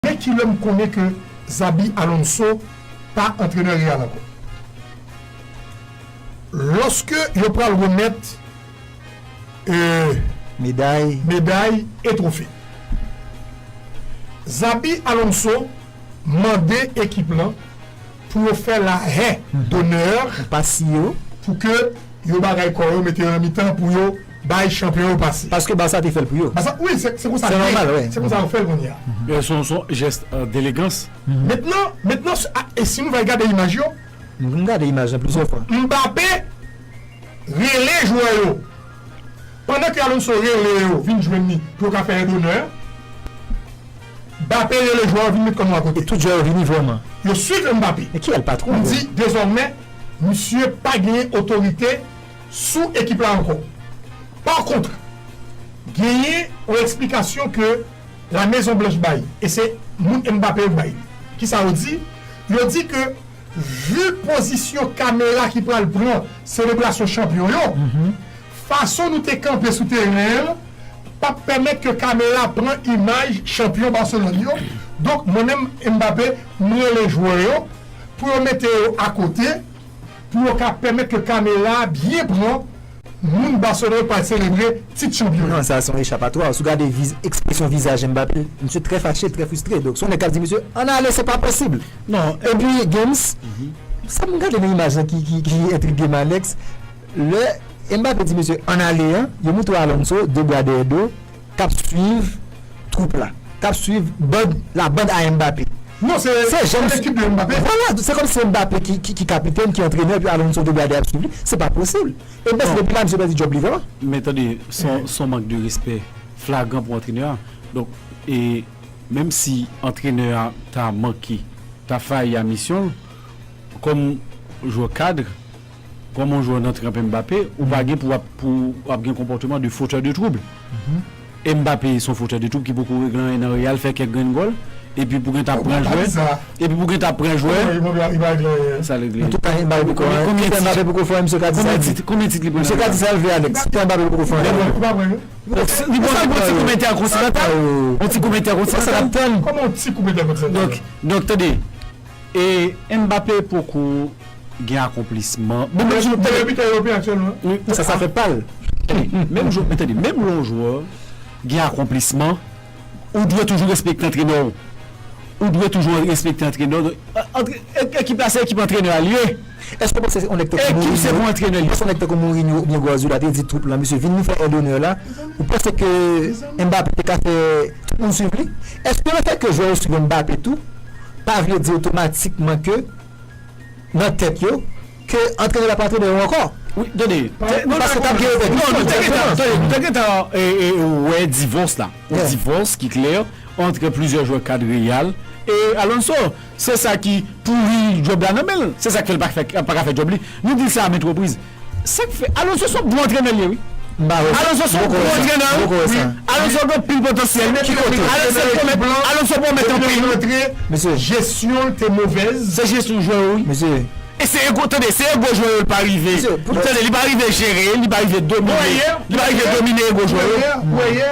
E kilè m konnen ke Xabi Alonso pa antrenè Real ankò? Lòske yo pral remèt meday e twofe. Xabi Alonso mande ekip lan pou yo fè lahen donè pou ke yo bagay kò yo, mete yo nan mitan pou yo. bay chanpyon yo pase. Paske Barça te fèl pou yo. Barça wi se se konsa li ye se konsa yo fèl konnya. Yo son son jès delegans. Mentnan mentnan se a e si nou vay gade imaj yo. Nou vin gade imaj lan plizyè fwa. Mbappé rele jwè yo pandan ke Alonso rele yo vin jwenn li pou yo ka fè yon donè. Bappé rele jwè yo vin met kò nou akote. E tout jwè yo vini vrèman. Yo swiv Mbappé. Men kiyèl patwon yo. Li di dezòmè misye pa genyen otorite sou ekip la ankò. Pa kontre, genyen yon eksplikasyon ke La Mezon Blanch bay, e se moun Mbappé yo bay li. Kisa yo di? Yo di ke vu pozisyon kamera ki pral pran selebrasyon chanpyon yo, fason nou te kanpe sou teren an pap pèmèt ke kamera pran imaj chanpyon Barcelone yo, donk mwen menm Mbappé, m rele jwè yo pou yo mete yo akote. pou yo ka pèmèt ke kamera a byen pran moun Barcelona yo pral selebre tit chanpyon yo. Sa a se yon echapatwa. Si w gade ekspresyon vizaj Mbappé, misye trè fache, trè fristre. Donk se yon nèg k ap di misye, ann ale, se pa posib. Non, epi Gims, sa m gade nan imaj lan ki entrige m Alex, lè Mbappé di misye ann ale an, yo montre w Alonso, de bwa dèyè do, kap swiv twoup la kap swiv band la band a Mbappé non se janm se ekip de Mbappé vwala se kòm si se Mbappé ki kapitèn ki antrenè epi Alonso te gade ap swiv li se pa posib e Messi depi la misye pèdi djòb li vre men tande son mank de respè flagran pou antrenè a donk e menm si antrenè a ta manke ta fayi a misyon l kòm jwè kadre Kòm yon jwè nan tranp Mbappé, ou pa gen pou w ap gen konpòteman de fotè de twoub. Mbappé se yon fotè de twoub ki poko regle anyen nan Real, fè kèk grenn gòl, epi pou gen ta pran jwè, epi pou gen ta pran jwè, sa regle. Konbyen tit li pran nan Real? Li poko pran yon ti koup entèkontinantal? Yon ti koup entèkontinantal? Donk, tande. E Mbappé poko gen akonplisman. Meyè bitè Eropeyen aktyèlman. Sa sa fè pal. Tande, menm lè yon jwè gen akonplisman, ou dwe toujou respekte antrenè w. Ou dwe toujou respekte antrenè w. Ekip la se ekip antrenè a l ye. Eske w panse se yon nèg tankou Mourinho, panse yon nèg tankou Mourinho oubyen Guardiola te di twoup lan mesye vin nou fè èd onè la, ou panse ke Mbappé te ka fè tout moun swiv li? Eske lefèt ke jwè yo swiv Mbappé tou pa vle di otomatikman ke nan tèt yo ke antrenè la pa antrenè yo ankò? Wi, tande, paske t ap gen repèkisyon non, tande, nou te gentan wè divòs la, yon divòs ki klè antre plizyè jwè kad Real e Alonso, Se sa ki pouri djòb la nan men l. Se sa k fè l pa ka fè djòb li. Nou di l sa a maintes reprises. Sa k fè Alonso son bon antrenè li ye wi. Alonso son bon antrenè wi. Alonso gen anpil potansyèl. Alonso pwomèt anpil. Mesye jesyon l te movèz. Se jesyon jwè yo wi. Mesye. E se ego tande se ego jwè yo l pa rive. Tande li pa rive jere, li pa rive domine. Li pa rive domine ego jwè yo. Wè yè.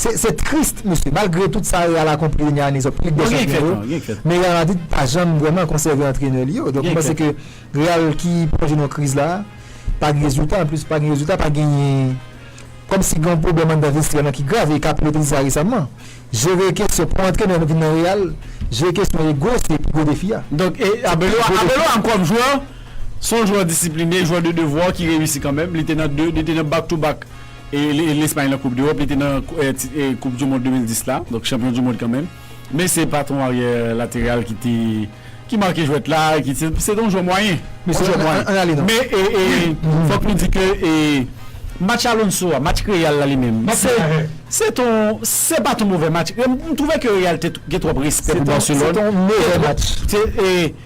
Se triste mesye, malgre tout sa Real akonpli dènye ane sa yo pou Lig dè Chanpyon yo, men Real Madrid pa janm vrèman konsève antrenè li yo. Donk mwen panse ke Real ki plonje nan yon kriz la, pa gen rezilta, anplis pa gen rezilta, pa genyen, kòm si gen yon pwoblèm anndan vestyè lan ki grav e Capello te di sa resamman. Jere kesyon, pou yon antrenè vin nan Real, jere kesyon ego se pi gwo defi a. Donk e Abelo a, Abelo a kòm jwè, se yon jwè disipline, jwè de devwa ki reyisi kanmenm, li te nan 2, li te nan back to back. Lespay nan koup dEròp, li te nan koup du mond 2010 la, donk chanpyon du mond kanmenm, men se pa ton aryè lateral ki te, ki make jwèt la, ki se te yon jwè mwayen, yon jwè mwayen. An ale nan. Men fòk nou di ke match Alonso a, match Real la li menm, se ton, se pa ton movè match, m twouve ke Real te gen twòp respè pou Barcelone. Se te yon movè match.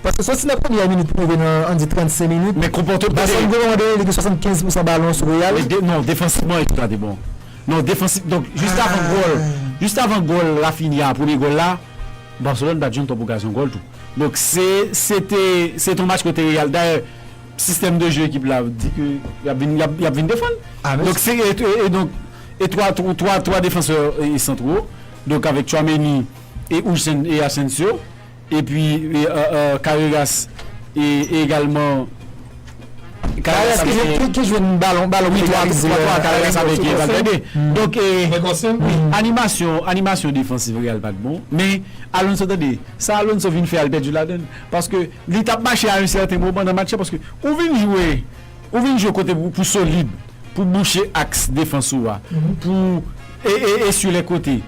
Paske soti nan premyè minit pou rive nan an di 35 minit, Basson Goran mande li gen 75 pousan balon sou Real. Non, defansivman ekip la te bon. Non, defansivman, donk jis avan gòl, jis avan gòl Raphinha a, premye gòl la, Barcelone pa t jwenn twòp okazyon gòl tou. Donk se, se te, se te yon match kote Real, dayè sistèm de jeu ekip la di ke y ap vin, y ap vin defann. Donk se, e donk e twa, twa, twa defansè santro, donk avèk Tchouaméni e Huijsen e Asensio. Epi Carreras e egalman Carreras ki jwenn balon pou li egalize Carreras avèk Valverde. Donk animasyon defansiv Real pat bon men Alonso tande sa Alonso vin fè al pèdi ladann paske li tap mache a yon sèten moman nan match la paske ou vin jwe ou vin jwe kote pou solid pou bouche aks defans ou a pou esye lè kote.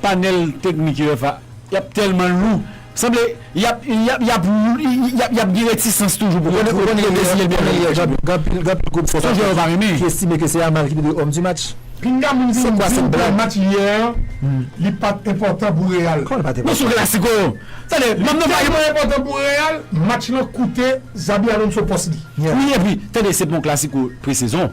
Panel teknik yo FA yap telman lou sanble yap yap yap gen retisans toujou pou yo pou yo deziye l Meilleur Joueur du Match la. Gen anpil group Son jwè yo pa renmen. ki estime ke se Yamal ki te dwe Homme du Match. Pinga moun vin di w plan match yè an li pat enpòtan pou Real. Kòman li pat enpòtan? Bon se yon klasiko. Tande, m ap Li tèlman enpòtan pou Real, match lan koute Xabi Alonso pòs li. Wi epi tande se pa yon klasiko presezon.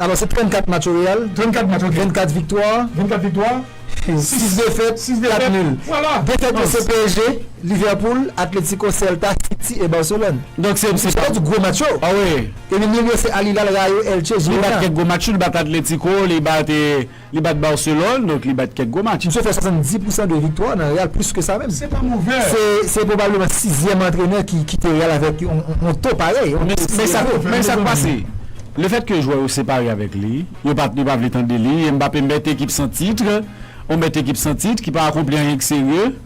Alò se 34 match o Real. 34 match ok. 24 viktwa. 24 viktwa. 6 defèt. 6 defèt. 4 nul. Vwala. Defèt yo se PSG, Liverpool, Atletico, Celta, City e Barcelone. Donk se. Sa vle di gwo match yo. Awe. Epi nul yo se Al Hilal, Rayo, Elche, Girona. Li bat kèk gwo match tou. Li bat Atletico, li bat e. Li bat Barcelone, donk li bat kèk gwo match. Misye fè 70 pousan de viktwa nan Real, plis ke sa menm. Se pa move. Se pwobableman sizyèm antrenè ki kite Real avèk yon to parèy. Men sa k pase, lefèt ke jwè yo separe avèk li, yo pa vle tande li, Mbappé, bèt ekip san titre, yon bèt ekip san titre ki pa akonpli anyen ki serye.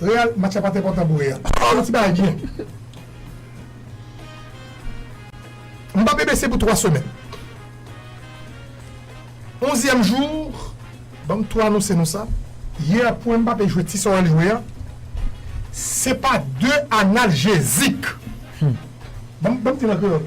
Real match la pat enpòtan pou real. Oh yon ti bagay byen. Mbappé bese pou 3 semèn. Onzyèm jou banm tou anonse nou sa. Yè pou Mbappé jwe ti sa wèl jwe a se pa 2 analjezik. Banm banm dil an kreyòl.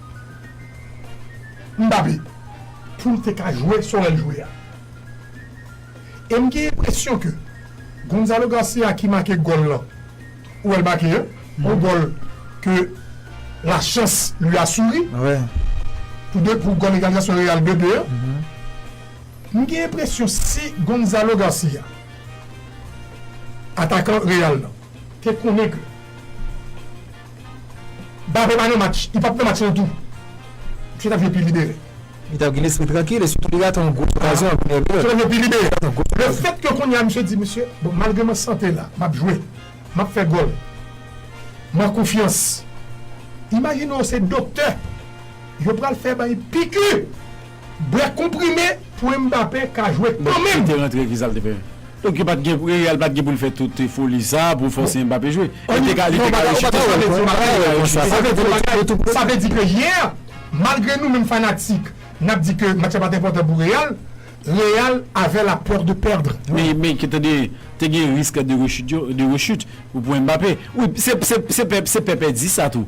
Mbappé pou l te ka jwe Sorel jwe a. E m gen enpresyon ke Gonzalo Garcia ki make gòl lan, ou wè l make yon gòl ke la chance lui a souri pou 2 pou gòl egalizasyon Real 2, 2 an. M gen enpresyon si Gonzalo Garcia, atakan Real lan, te konnen ke. Mbappe pa nan match, li pap nan match lan tou. Misye ta vle pi libere. Li ta gen lespri trankil e sitou li rate yon gwo okazyon an premye mitan. Misye ta vle pi libere. Le fèt ke kounye a misye di misye, bon malgre m an sante la, map jwe, map fè gòl, m an konfyans. Imajine w se doktè, yo pral fè bay piku! Bwè konprime pou Mbappé ka jwe kan menm. Li te rantre kisa li te fè? Donk yo pat gen Real pat gen pou l fè tout foli sa pou fòse Mbappé jwe. Li te ka li te ka rechute sa vle di yon bagay li ka rechute sa vle di yon bagay. Sa vle di ke yè malgre nou menm fanatik nap di ke match la pat enpòtan pou Real, Real avè la peur de perdre. Men men tande te gen risk de rechute yo de rechute pou Mbappé wi se se se pè pèdi sa tou.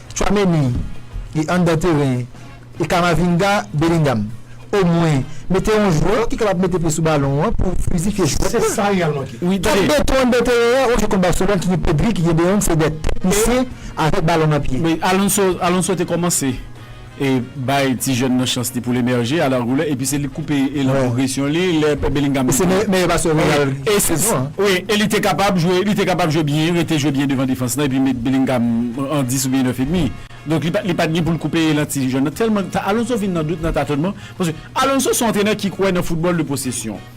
Tchouameni li anndan teren e Camavinga Bellingham omwen mete yon jwè ki kapab mete pye sou balon an pou flizifye jwèt la. Kèk beton anndan teren an yon jwè kont Barcelone ki gen Pedri ki gen De Jong se 2 teknisyen avèk balon nan pye. Alonso te kòmanse. e bay ti jèn nan chans li poul emèje a la goulè epi se li k koupe elan pwogresyon li lè Bellingham te jwe se meyè pasè Real gen sezon an wi e li te kapab jwe li te kapab jwe byen rete jwe byen devan defans lan epi met Bellingham an 10 oubyen 9 edmi donk li pat li pat gen poul koupe elan ti jèn nan tèlman Alonso vin nan dout nan tatonman paske Alonso son antrenè ki kwè nan foutbòl de posesyon.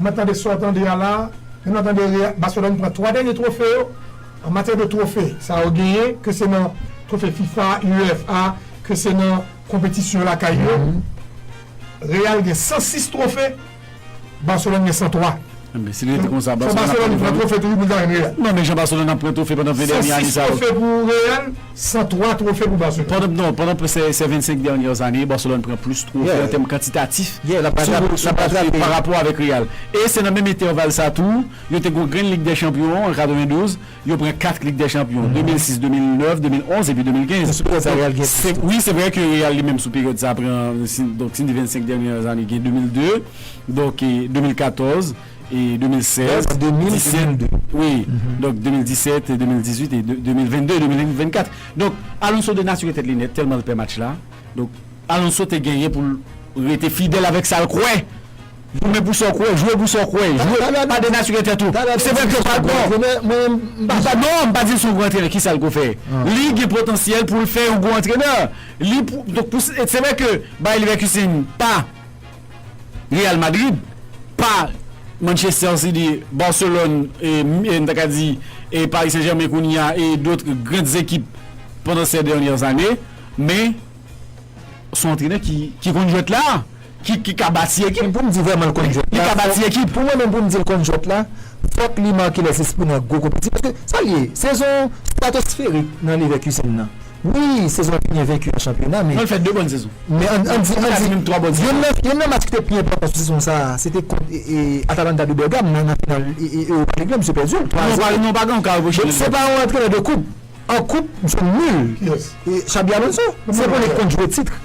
Mwen tande sa w tande a la a, men mwen tande Real, Barcelone pran 3 dènye twofe yo. An matyè de twofe sa yo genyen, ke se nan twofe fifa, UEFA, ke se nan konpetisyon lakay yo, Real gen 106 twofe, Barcelone gen 103. Enben, si li rete konsa, Barcelone ap pran twofe tou. Fò Barcelone pran twofe toujou pou li ka jwenn Real. Non, men jan Barcelone ap pran twofe pandan 20 dènye ane sa yo. 106 twofe pou Real. 103 twofe pou Barcelone. Non, pandan sè 25 dènyè zane, Barcelone pran plis twofe an tèm kantitatif sou papiye parapò avèk Real. E se nan menm entèval sa tou, yo te gon grenn Lig dè Chanpyon an 92, yo pran 4 Lig dè Chanpyon, 2006, 2009, 2011 epi 2015. Sou peryòd sa Real gen plis twofe. Wi, se vrè ke Real li menm sou peryòd sa pran, donk si n di 25 dènyè zane gen 2002, donk 2014. 2016 en 2022 wi donk 2017 2018 et 2022 2024 donk Alonso denature tèt li nèt tèlman l pè match la donk Alonso te genyen pou l rete fidèl avèk sa l kwè goumen pou sa w kwè jwe pou sa w kwè jwe pa denature tèt ou se vre ke w pa l pran non m pa di l se yon gwo antrenè kisa l ko fè li gen potansyèl pou l fè yon gwo antrenè li pou donk se vre ke Bayer Leverkusen pa. Real Madrid pa Manchester City, Barcelone e m ta ka di e Paris Saint Germain kounye a e d'autres grandes équipes pendant ces dernières années men son antrenè ki konn jwèt la ki ka bati ekip. Men pou m di vrèman l konn jwèt la. Li ka bati ekip. Pou mwen menm pou m di l konn jwèt la fòk li make lè zespri nan gwo konpeti paske sa l ye sezon stratosferik nan Leverkusen nan. Wi, sezon an te byen venki an chanpyona, men. Non, li fè 2 bòn sezon. Men an di, an di. Pou pa di menm 3 bòn sezon. Youn nan match ki te pi enpòtan sou sezon sa a, se te kont Atalanta de Bergame nan nan final Europa League lan, misye pèdi l 3 a 0. Non, pa gen yon ka repwoche li. Donk, se pa yon antrenè de koup. An koup, misye nul. Kiyès? Xabi Alonso. Se pou li konn jwe titre.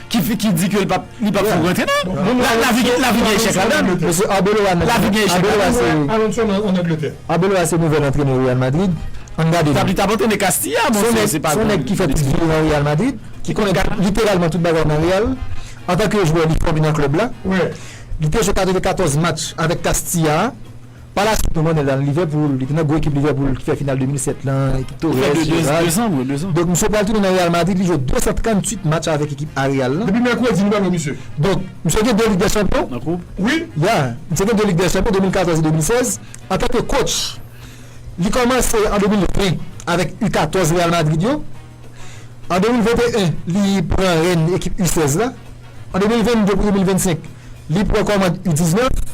ki di ke li pap fout rantre nan lavi gen echèk ladann mesye Arbeloa lavi gen echèk ladann Arbeloa se nouvel antrenè Real Madrid ann gade li li tap antrene Castilla son nèg ki fè tout vi li nan Real Madrid ki konnen literalman tout bagay nan Real antanke jwè li fòme nan klèb la li te jwe 94 match avèk Castilla Pa la suit nou konnen l al Livèpoul, li te nan gwo ekip Livèpoul ki fè final 2007 lan, ekip Torres, Gerrard. Donk misye pral tounen nan Real Madrid, li jwe 238 match avèk ekip A Real lan. Depi mèkredi nou pa wè misye. Donk misye gen 2 Lig dè Chanpyon. Nan koup? Wi. Ya, misye gen 2 Lig dè Chanpyon, 2014 e 2016. Antanke kotch, li kòmanse an 2020 avèk U14 Real Madrid yo. An 2021, li pran rèn ekip U 16 la. An 2022 pou 2025, li pran kòmand U 19.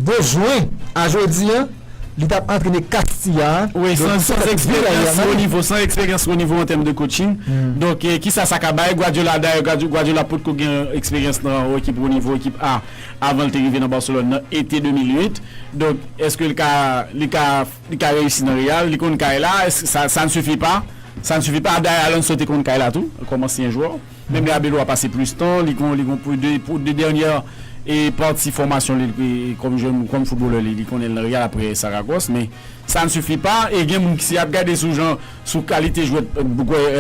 De jwen a jodi a, li t ap antrene Castilla a. Wi, san eksperyans wo nivo, san eksperyans wo nivo an tèm de coaching. Donk, ki sa sa ka bay Guardiola? Dayè, Guardiola pot ko gen eksperyans nan yon ekip wo nivo, ekip A, avan l te rive nan Barcelone nan ete 2008. Donk, èske li ka Li ka reyisi nan Real, li konn kay la, sa ne suffit pas, sa ne suffit pas, dayè Alonso te konn kay la tou kòm ansyen jwè, menm lè Arbeloa pase plis tan, li konn li konn pou de dènyè pati fòmasyon li kòm jèn, kòm footballeur li konnen nan Real aprè Saragòs, men sa ne suffit pas e gen moun ki si yap gade sou jan, sou kalite jwè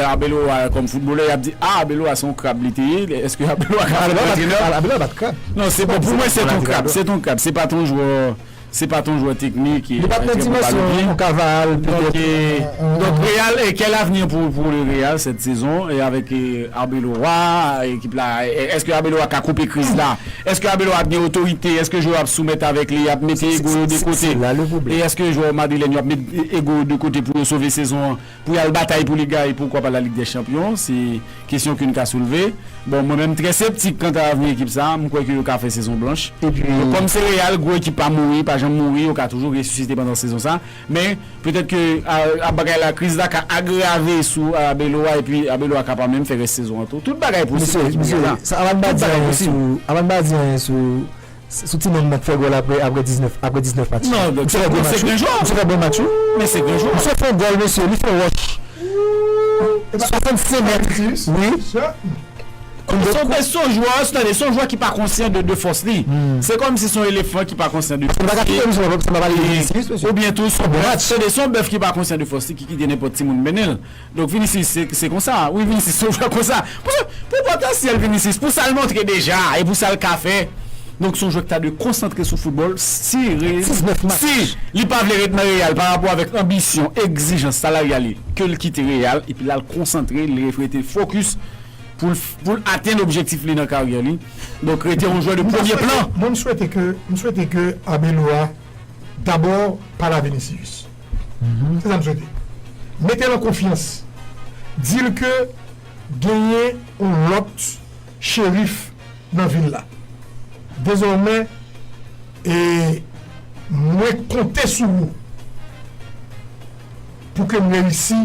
Arbeloa kòm footballeur yap di ah Arbeloa se yon krab li te ye, èske Arbeloa ka al antrènè? Arbeloa pat krab. Non se bon pou mwen se ton krab, se ton krab, se pat yon jwè. Se pa t yon jwè teknik, e menm lè pou l pa lobyen. Donk Real, kè l avni pou le Real sèt sezon e avèk Arbeloa ekip la èske Arbeloa ka koupe kriz la? Èske Arbeloa ap gen otorite? Èske jwè yo ap soumèt avèk li? Y ap mete ego yo de kote? E èske jwè madrilèn yo ap met ego yo de kote pou yo sove sezon an? Pou y al batay pou Liga e poukwa pa Lalig dè Chanpyon, se kesyon ke n ka soulve. Bon, mwen menm m trè septik kanta avni ekip sa a, m kwè ke yo ka fè sezon blanch. Donk kòm se Real, gwo ekip pa mouri, pa janm mouri, yo ka toujou resisite pandan sezon sa. Men, petèt ke a bagay la, kriz la ka agrave sou Arbeloa epi Arbeloa ka pa menm fè rès sezon an tou. Tout bagay posib pou ekip Real la. Tout bagay posib. Mesye, sa pa n pa di anyen sou. Sou ti nonm nan k fè gòl aprè aprè 19 aprè 19 match. Non non se bon se grenjwa. Misye fè bon match wi. Men se grenjwa. Misye fè yon gòl mesye li fè wòch. 65 mèt wi. Son jwè tande son jwè ki pa konsyan de de fòs li. Se kòmsi son elefan ki pa konsyan de fòs li. Oubyen tou son bèf tande son bèf ki pa konsyan de fòs li ki kite nenpòt timoun mennen l. Donk Vinicius se konsa wi Vinicius se yon jwè konsa paske pou potansyèl Vinicius pou sal montre deja e pou sal ka fè donk son jwè ki ta dwe konsantre sou foutbòl si si li pa vle ret nan Real pa rapò avèk anbisyon egzijans salaryal li ke li kite Real epi lal konsantre li rete fokis poul poul atenn objektif li nan karyè li donk rete yon jwè de premye plan. Mwen m swete ke m swete ke Arbeloa. Dabor pale a Vinicius se sa m swete mete l an konfyans di l ke genyen yon lot cherif nan vil la dezòmè e mwen konte sou ou pou ke m reyisi.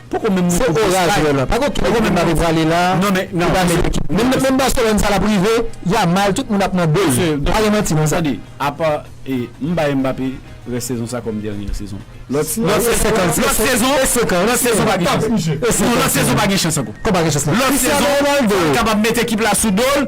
Poko menm nan koub de sky la. Pako ki ekip Mbappé prale la ki pa met ekip li. Menm Barcelone sa lap rive Yamal tout moun ap nan dol. Pa gen manti nan sa. Tande apa m bay Mbappé rès sezon sa kòm dènyè sezon. Lòt sezon lòt sezon pa gen chans. Non lòt sezon pa gen chans ankò. Lòt sezon li kapab met ekip la sou dol.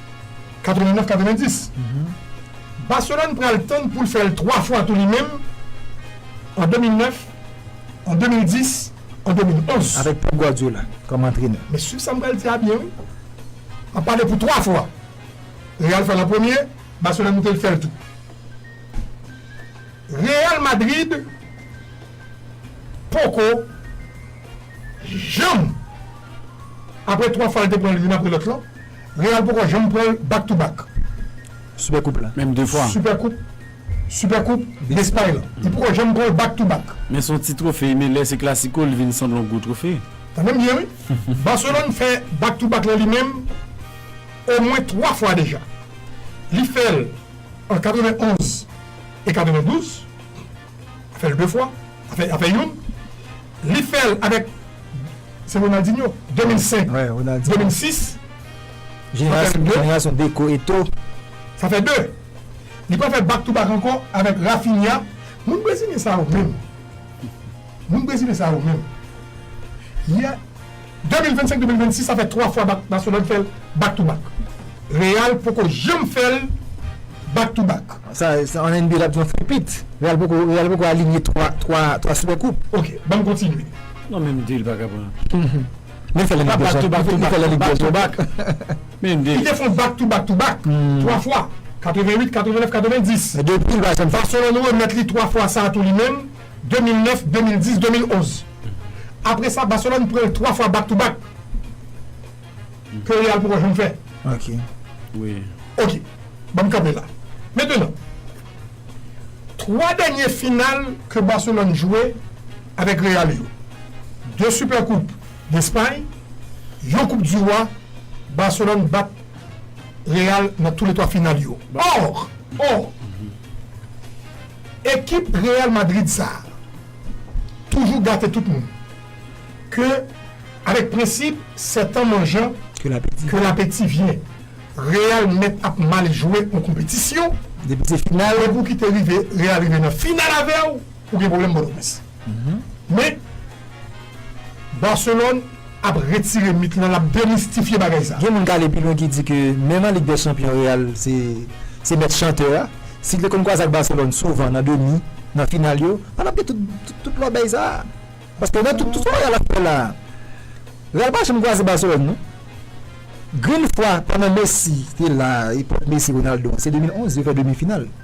89 90 Barcelone pral tann poul fèl 3 fwa tou li menm an 2009 an 2010 an 2011 avèk Pep Guardiola kòm antrenè men swiv sam pral di a byen wi map pale pou 3 fwa Real fèl an premye Barcelone moute li fèl tou Real Madrid poko janm apre 3 fwa li te pranl youn apre lòt lan. Real poko janm pranl back to back. Super coupe la menm 2 fwa. Super coupe Super coupe d'Espagne lan li poko janm pranl back to back. Men son ti trofe men lè se clasico li vin sanble yon gwo trofe. Tande m byen wi, Barcelone fè back to back lan li menm omwen 3 fwa deja. Li fèl an 91 e 92. Fèl 2 fwa, a fè youn. Li fèl avèk se Ronaldinho 2005, 2006. Jenerasyon Deco, Eto'o. Sa fè 2. Li pral fè back to back ankò avèk Raphinha. Moun brezilyen sa yo menm. Moun brezilyen sa yo menm. 2025 2026 sa fè 3 fwa bak Barcelone fèl back to back. Real poko janm fèl back to back. Sa an NBA lap di yon fripit. Real poko real poko alinye 3 3 3 super koup. Ok banm kontinye. Non men MD li paka pran. Li fèl an lig dèchampion li fèl an lig dèchampion bak men MD. Li te fon back to back to back 3 fwa 88 89 90. Depi li pa janm fè. Barcelone remèt li 3 fwa sa tou li menm. 2009, 2010, 2011. Apre sa Barcelone pran l 3 fwa back to back ke Real poko janm fè. Ok. Ok. Banm kanpe la. Mentenan, 3 dènye final ke Barcelone jwe avèk Real yo, 2 Super Coupe d'Espagne, yon Coupe du Roi, Barcelone bat Real nan tou le 3 final yo. Or! Or! Ekip Real Madrid sa toujou gate tout moun ke avèk prensip sèt an manjan ke lapeti vyen Real mèt ap mal jwe yon konpetisyon depi se final epi ou kite rive Real rive nan final avèw ou gen pwoblèm Pòtoprens. Men Barcelone ap retire mit lan, lap demistifye bagay sa. Gen moun k ale pi lwen ki di ke menm an Lig dè Chanpyon Real se mèt chantè a. Si l te konn kwaze ak Barcelone souvan nan demi, nan final yo, pa t ap gen tout lòbèy sa. Paske nan tout sa Real ap fè la, Real pa janm kwaze Barcelone non. Grenn fwa pandan Messi te la, epòk Messi, Ronaldo an, se 2011 yo fè demi final.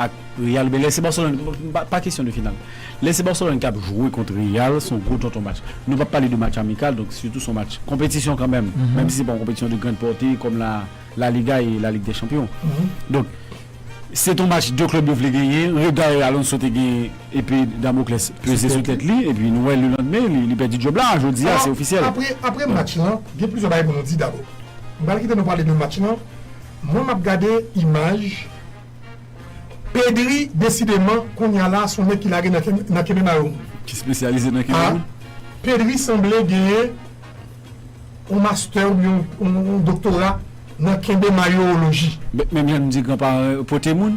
ak real men lè se Barcelone pa kesyon de final lè se Barcelone kap jwe kont real son gwo tonton match nou pap pale de match amikal donk sitou son match konpetisyon kanmenm menm si se pa yon konpetisyon de grand porte kòm la la liga e la lig dè chanpyon donk se ton match 2 klèb yo vle genyen regard Alonso te gen epe damocles peze sou tèt li epi nou wè le landmen li pèdi djob la jodi a se ofisyèl. Apre match lan gen plizyè bagay pou nou di dabò m pral kite nou pale de match lan. Mwen map gade imaj Pedri desideman kounya la son nèg ki lage nan kenbe mayo moun. Ki spesyalize nan kenbe moun? Ah Pedri sanble genyen yon mastè oubyen yon doktora nan kenbe mayooloji. Menm jan nou di gran paran yo pote moun.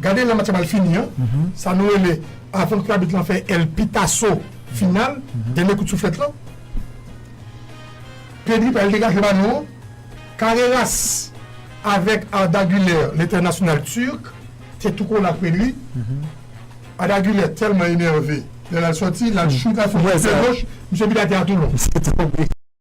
Gade lè match la pral fini an, sa nou rele avan ke abit lan fè El Pitasso final, dènye kout souflèt lan. Pedri pral degaje balon an, Carreras avèk Arda Güler, lentènasyonal Turk, te tou kole ak Pedri. Arda Güler tèlman enève lè l al sòti, l al choute avèk pye goch, misye vide atè a tou lon.